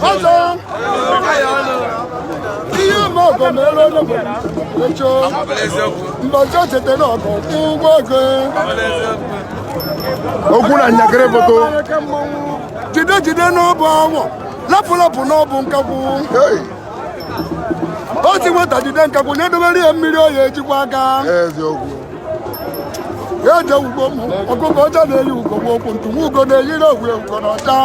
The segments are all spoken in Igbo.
ọzọ ihe ụmụ ọgọ mere onye bụ echo mbọchị o chetara ọgọ kwụ ụgwọ ego okwu na njakịrị bụ ụtọ jide jide n'ọbụ anụ lapụ lapụ n'ọbụ nkakwụ o si nwata jide nkakwụ na-edobere ya mmiri ọ ya-eji akwọ aka eziokwu eje ugbo m ọkụkọ ọcha na-eyi ugo m okwu ntu nwa ugo na-eyiri ogwe ugo na ọcha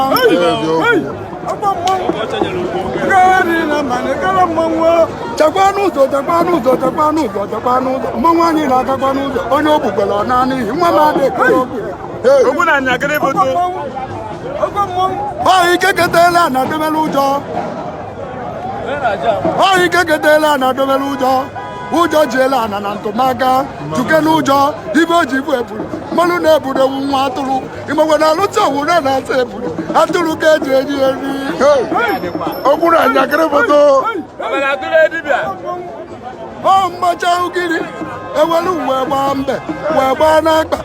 chekwa n'ụzọ chekwa n'ụzọ chekwa n'ụzọ chekwa n'ụzọ mmanwụ anyị na-agakwa n'ụzọ onye o gbukwara ọ naa n'ihi nwa m adịghị ekere okwu Okwu na njakịrị bụ ụtọ. ọ ike ketela na ademela ụjọ ọ ike ketela na ademela ụjọ ụjọ jiela ana na ntụmaka chuke n'ụjọ ibe o ji bụ eburu mmanụ na eburu wụ nwa atụrụ ịmakwa na alụta owure na-asa eburu atụrụ ka eji eri eri okwu na njakịrị bụ ụtọ ọ mmacha ugiri ewere uwe gbaa mbe wee gbaa n'akpa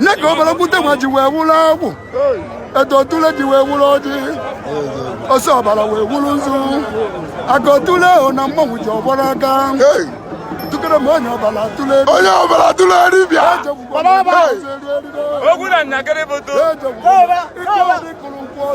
nye ka obere okwute nwa ji wee wụrụ agwụ etu otule ji wee wụrụ ọjị ose ọbara wee wụrụ nzu aka otule ahụ na mmanwụ ji ọgbara aka Hey, tukere m onye ọbara atụle onye ọbara tụrụ dibịa Hey. Okwu na njakịrị bụ ụtọ. Ejegbu. Ike ọdị kụrụ nkwụ ọzọ.